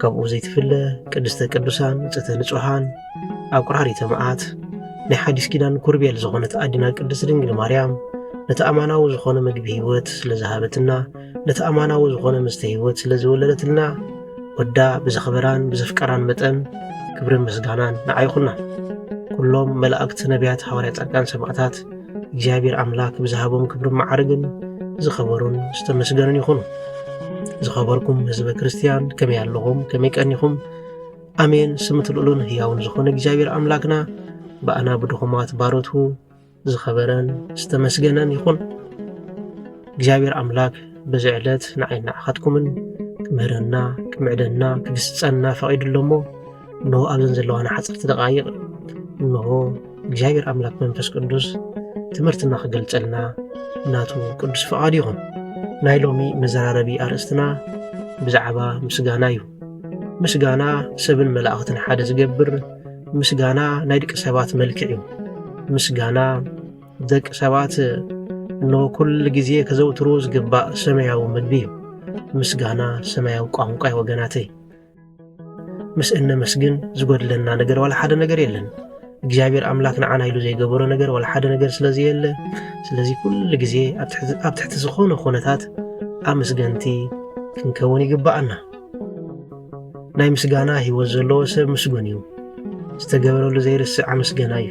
ከምኡ ዘይትፍለ ቅድስተ ቅዱሳን ንጽህተ ንጹሓን ኣቁራሪተ መዓት ናይ ሓዲስ ኪዳን ኩርቤል ዝኾነት ኣዲና ቅድስት ድንግል ማርያም ነቲ ኣማናዊ ዝኾነ ምግቢ ህይወት ስለ ዝሃበትና ነቲ ኣማናዊ ዝኾነ ምስተ ህይወት ስለ ዝወለደትልና ወዳ ብዘኽበራን ብዘፍቀራን መጠን ክብርን ምስጋናን ንዓይኹና ኩሎም መላእክቲ ነቢያት ሃዋርያ ጻድቃን ሰማዕታት እግዚኣብሔር ኣምላክ ብዝሃቦም ክብርን መዓርግን ዝኸበሩን ዝተመስገኑን ይኹኑ። ዝኸበርኩም ህዝበ ክርስትያን ከመይ ኣለኹም? ከመይ ቀኒኹም? ኣሜን። ስምት ልኡሉን ህያውን ዝኾነ እግዚኣብሔር ኣምላክና ብኣና ብድኹማት ባሮቱ ዝኸበረን ዝተመስገነን ይኹን። እግዚኣብሔር ኣምላክ በዚ ዕለት ንዓይ ንዓኻትኩምን ክምህረና ክምዕደና ክግስፀና ፈቒዱ ኣሎ እሞ እንሆ ኣብዘን ዘለዋና ሓፀርቲ ደቓይቕ እንሆ እግዚኣብሔር ኣምላክ መንፈስ ቅዱስ ትምህርትና ክገልጸልና ናቱ ቅዱስ ፍቓድ ይኹን። ናይ ሎሚ መዘራረቢ ኣርእስትና ብዛዕባ ምስጋና እዩ። ምስጋና ሰብን መላእኽትን ሓደ ዝገብር ምስጋና ናይ ደቂ ሰባት መልክዕ እዩ። ምስጋና ደቂ ሰባት እነሆ ኩሉ ግዜ ከዘውትርዎ ዝግባእ ሰማያዊ ምግቢ እዩ። ምስጋና ሰማያዊ ቋንቋ እዩ ወገናተይ። ምስ እነመስግን ዝጎድለና ነገር ዋላ ሓደ ነገር የለን። እግዚኣብሔር ኣምላክ ንዓና ኢሉ ዘይገበሮ ነገር ዋላ ሓደ ነገር ስለዘየለ ስለዚ ኩሉ ግዜ ኣብ ትሕቲ ዝኾነ ኩነታት ኣመስገንቲ ክንከውን ይግባኣና። ናይ ምስጋና ህይወት ዘለዎ ሰብ ምስጉን እዩ። ዝተገበረሉ ዘይርስዕ ኣመስገና እዩ።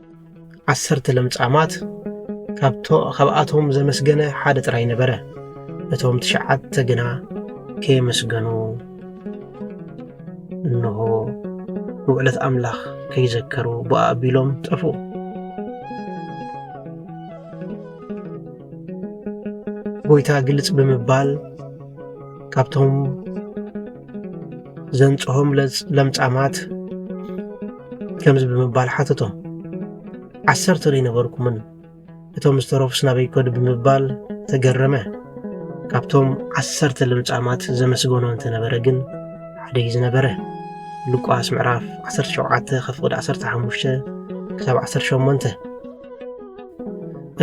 ዓሰርተ ለምጻማት ካብኣቶም ዘመስገነ ሓደ ጥራይ ነበረ እቶም ትሽዓተ ግና ከየመስገኑ እንሆ ንውዕለት ኣምላኽ ከይዘከሩ ብኣ ኣቢሎም ጠፍኡ ጎይታ ግልጽ ብምባል ካብቶም ዘንጽሆም ለምጻማት ከምዚ ብምባል ሓተቶም ዓሰርተ ዶ ኣይነበርኩምን እቶም ዝተረፉስ ናበይ ከዱ ብምባል ተገረመ ካብቶም ዓሰርተ ልምጻማት ዘመስገኖ እንተነበረ ግን ሓደ እዩ ዝነበረ ሉቃስ ምዕራፍ 17 ከፍቕድ 15 ክሳብ 18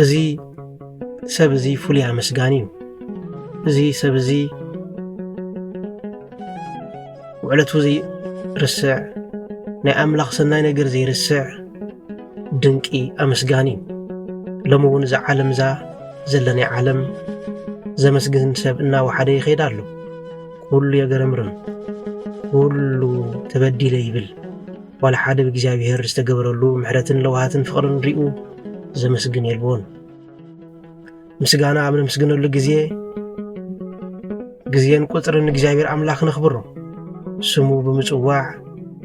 እዚ ሰብ እዚ ፍሉይ ኣመስጋኒ እዩ እዚ ሰብ እዚ ውዕለቱ ዘይርስዕ ናይ ኣምላኽ ሰናይ ነገር ዘይርስዕ ድንቂ ኣመስጋኒ እዩ ሎሚ እውን እዛ ዓለም እዛ ዘለናይ ዓለም ዘመስግን ሰብ እናወሓደ ይኸይድ ኣሎ ኩሉ የገረምርም ኩሉ ተበዲለ ይብል ዋላ ሓደ ብእግዚኣብሔር ዝተገበረሉ ምሕረትን ለውሃትን ፍቕርን ሪኡ ዘመስግን የልቦን። ምስጋና ኣብ ነምስግነሉ ግዜ ግዜን ቁጽርን እግዚኣብሔር ኣምላኽ ነኽብሮ። ስሙ ብምጽዋዕ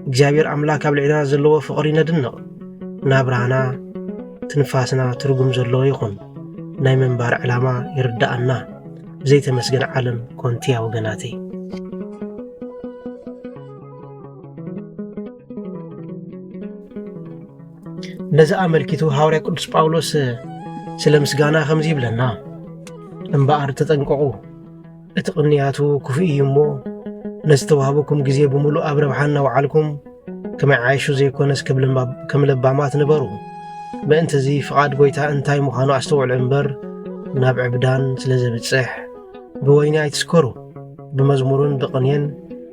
እግዚኣብሔር ኣምላክ ኣብ ልዕልና ዘለዎ ፍቕሪ ነድንቕ። ናብራና ትንፋስና ትርጉም ዘለዎ ይኹን። ናይ ምንባር ዕላማ ይርዳኣና። ብዘይተመስገን ዓለም ኮንቲያ ወገናተይ። ነዚ ኣመልኪቱ ሃዋርያ ቅዱስ ጳውሎስ ስለ ምስጋና ከምዚ ይብለና፣ እምበኣር ተጠንቀቑ፣ እቲ ቕንያቱ ክፉእ እዩ እሞ ነዚ ተዋህበኩም ግዜ ብምሉእ ኣብ ረብሓ እናውዓልኩም ከመይ ዓይሹ ዘይኮነስ ከም ለባማት ንበሩ። ምእንቲ እዚ ፍቓድ ጐይታ እንታይ ምዃኑ ኣስተውዕሉ እምበር ናብ ዕብዳን ስለ ዘብጽሕ ብወይኒ ኣይትስከሩ። ብመዝሙርን ብቕኔን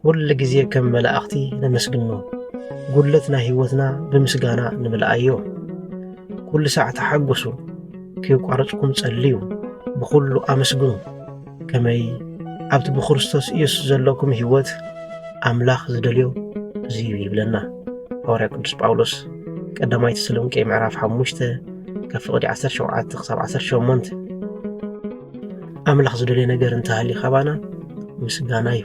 ኩሉ ግዜ ከም መላእኽቲ ነመስግኖ፣ ጉድለት ናይ ህይወትና ብምስጋና ንምልኣዮ። ኩሉ ሳዕ ተሓጎሱ፣ ከየቋረጽኩም ጸልዩ፣ ብኹሉ ኣመስግኑ። ከመይ ኣብቲ ብክርስቶስ ኢየሱስ ዘለኩም ህይወት ኣምላኽ ዝደልዮ እዚዩ ይብለና ሃዋርያ ቅዱስ ጳውሎስ ቀዳማይ ተሰሎንቄ ምዕራፍ 5 ካብ ፍቕዲ 17 ክሳብ 18 ኣምላኽ ዝደልዮ ነገር እንተሃልዩ ካባና ምስጋና እዩ።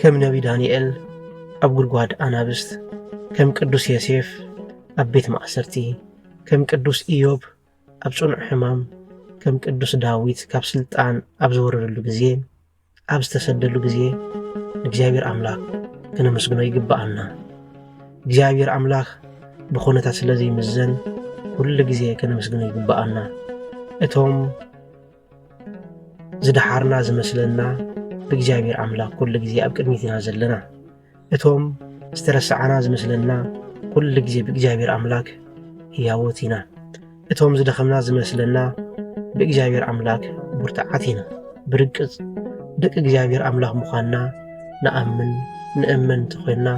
ከም ነቢ ዳንኤል ኣብ ጉድጓድ ኣናብስት፣ ከም ቅዱስ ዮሴፍ ኣብ ቤት ማእሰርቲ፣ ከም ቅዱስ ኢዮብ ኣብ ጽኑዕ ሕማም፣ ከም ቅዱስ ዳዊት ካብ ስልጣን ኣብ ዝወረደሉ ግዜ ኣብ ዝተሰደሉ ግዜ ንእግዚኣብሔር ኣምላኽ ክነመስግኖ ይግብኣና። እግዚኣብሔር ኣምላኽ ብኹነታት ስለ ዘይምዘን ኩሉ ግዜ ከነመስግኖ ይግብኣና። እቶም ዝደሓርና ዝመስለና ብእግዚኣብሔር ኣምላኽ ኩሉ ግዜ ኣብ ቅድሚት ኢና ዘለና። እቶም ዝተረሳዕና ዝመስለና ኩሉ ግዜ ብእግዚኣብሔር ኣምላክ ህያዎት ኢና እቶም ዝደኸምና ዝመስለና ብእግዚኣብሔር ኣምላክ ብርትዓት ኢና ብርግፅ ደቂ እግዚኣብሔር ኣምላኽ ምዃንና ንኣምን ንእመን እንተኾይንና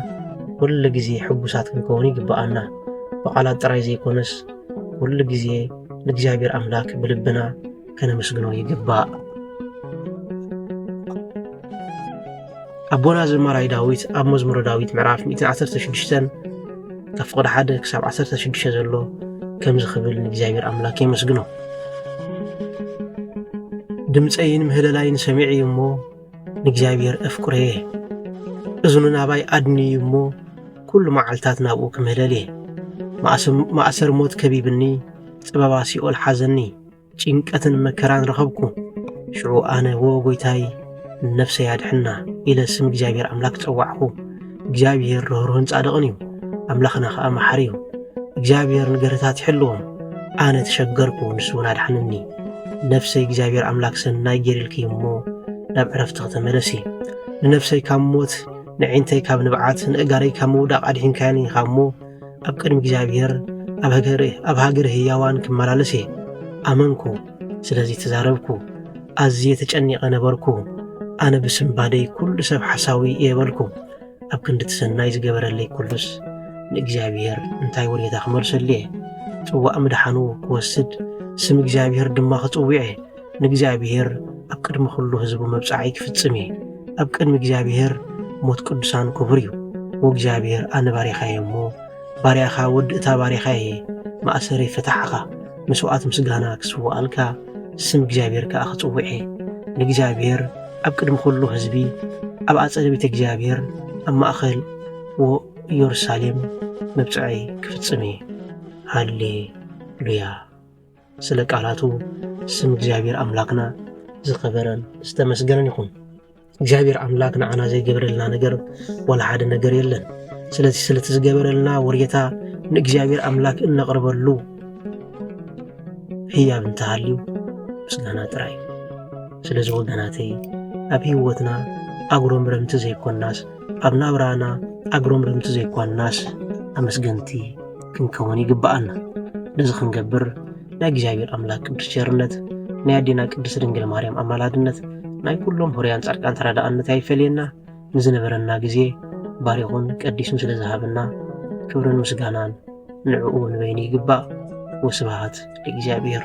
ኩሉ ግዜ ሕጉሳት ክንከውን ይግብኣና ብቓላት ጥራይ ዘይኮነስ ኩሉ ግዜ ንእግዚኣብሔር ኣምላክ ብልብና ከነመስግኖ ይግባእ ኣቦና ዘማራይ ዳዊት ኣብ መዝሙረ ዳዊት ምዕራፍ 116 ካብ ፍቕዲ ሓደ ክሳብ 16 ዘሎ ከምዚ ክብል ንእግዚኣብሔር ኣምላክ የመስግኖ ድምፀይን ምህለላይን ሰሚዐ እዩ እሞ ንእግዚኣብሔር እፍቅሮ እየ እዝኑ ናባይ ኣድኒ እዩ እሞ ኩሉ መዓልትታት ናብኡ ክምህለል እየ ማእሰር ሞት ከቢብኒ ጽበባ ሲኦል ሓዘኒ ጭንቀትን መከራን ረኸብኩ። ሽዑ ኣነ ወ ጎይታይ ነፍሰይ ኣድሕና ኢለ ስም እግዚኣብሔር ኣምላክ ጸዋዕኹ። እግዚኣብሔር ርህሩህን ጻድቕን እዩ፣ ኣምላኽና ኸኣ መሓሪ እዩ። እግዚኣብሔር ንገርህታት ይሕልዎም። ኣነ ተሸገርኩ፣ ንሱ እውን ኣድሓንኒ። ነፍሰይ እግዚኣብሔር ኣምላክ ሰናይ ጌሪልኪ እሞ ናብ ዕረፍቲ ክተመለሲ ንነፍሰይ ካብ ሞት ንዒንተይ ካብ ንብዓት ንእጋረይ ካብ ምውዳቕ ኣድሒንካያኒ ኢኻ እሞ ኣብ ቅድሚ እግዚኣብሔር ኣብ ሃገር ህያዋን ክመላለስ እየ ኣመንኩ። ስለዚ ተዛረብኩ፣ ኣዝየ ተጨኒቐ ነበርኩ። ኣነ ብስምባደይ ኩሉ ሰብ ሓሳዊ እየ በልኩ። ኣብ ክንዲ እቲ ሰናይ ዝገበረለይ ኩሉስ ንእግዚኣብሔር እንታይ ውሬታ ክመልሰሉ እየ? ጽዋእ ምድሓኑ ክወስድ ስም እግዚኣብሔር ድማ ክጽውዕ እየ። ንእግዚኣብሔር ኣብ ቅድሚ ዅሉ ህዝቡ መብጽዓይ ክፍጽም እየ። ኣብ ቅድሚ እግዚኣብሔር ሞት ቅዱሳን ክቡር እዩ። ወእግዚኣብሔር ኣነ ባሪኻ እየ እሞ ባርያኻ ወዲ እታ ባርያኻ እየ ማእሰሪ ፈታሕኻ መስዋዕት ምስጋና ክስዋኣልካ ስም እግዚኣብሔር ከኣ ክጽውዕ እየ። ንእግዚኣብሔር ኣብ ቅድሚ ዅሉ ህዝቢ ኣብ ኣጸደ ቤተ እግዚኣብሔር ኣብ ማእኸል ወኢየሩሳሌም መብጽዐይ ክፍጽም እየ። ሃሌ ሉያ ስለ ቃላቱ ስም እግዚኣብሔር ኣምላክና ዝኸበረን ዝተመስገነን ይኹን። እግዚኣብሔር ኣምላክ ንዓና ዘይገብረልና ነገር ወላ ሓደ ነገር የለን። ስለዚ ስለቲ ዝገበረልና ወሬታ ንእግዚኣብሔር ኣምላክ እነቕርበሉ ህያብ እንተሃልዩ ምስጋና ጥራይ። ስለዚ ወገናተይ ኣብ ህይወትና ኣጉረምረምቲ ዘይኮናስ ኣብ ናብራና ኣጉረምረምቲ ዘይኳናስ ኣመስገንቲ ክንከውን ይግብኣና። ነዚ ክንገብር ናይ እግዚኣብሔር ኣምላክ ቅዱስ ቸርነት፣ ናይ ኣዴና ቅድስት ድንግል ማርያም ኣማላድነት፣ ናይ ኩሎም ሆርያን ጻድቃን ተረዳእነት ኣይፈለየና። ንዝነበረና ግዜ ባሪኹን ቀዲሱን ስለ ዝሃበና ክብርን ምስጋናን ንዕኡ ንበይኑ ይግባእ። ወስብሃት ለእግዚኣብሔር።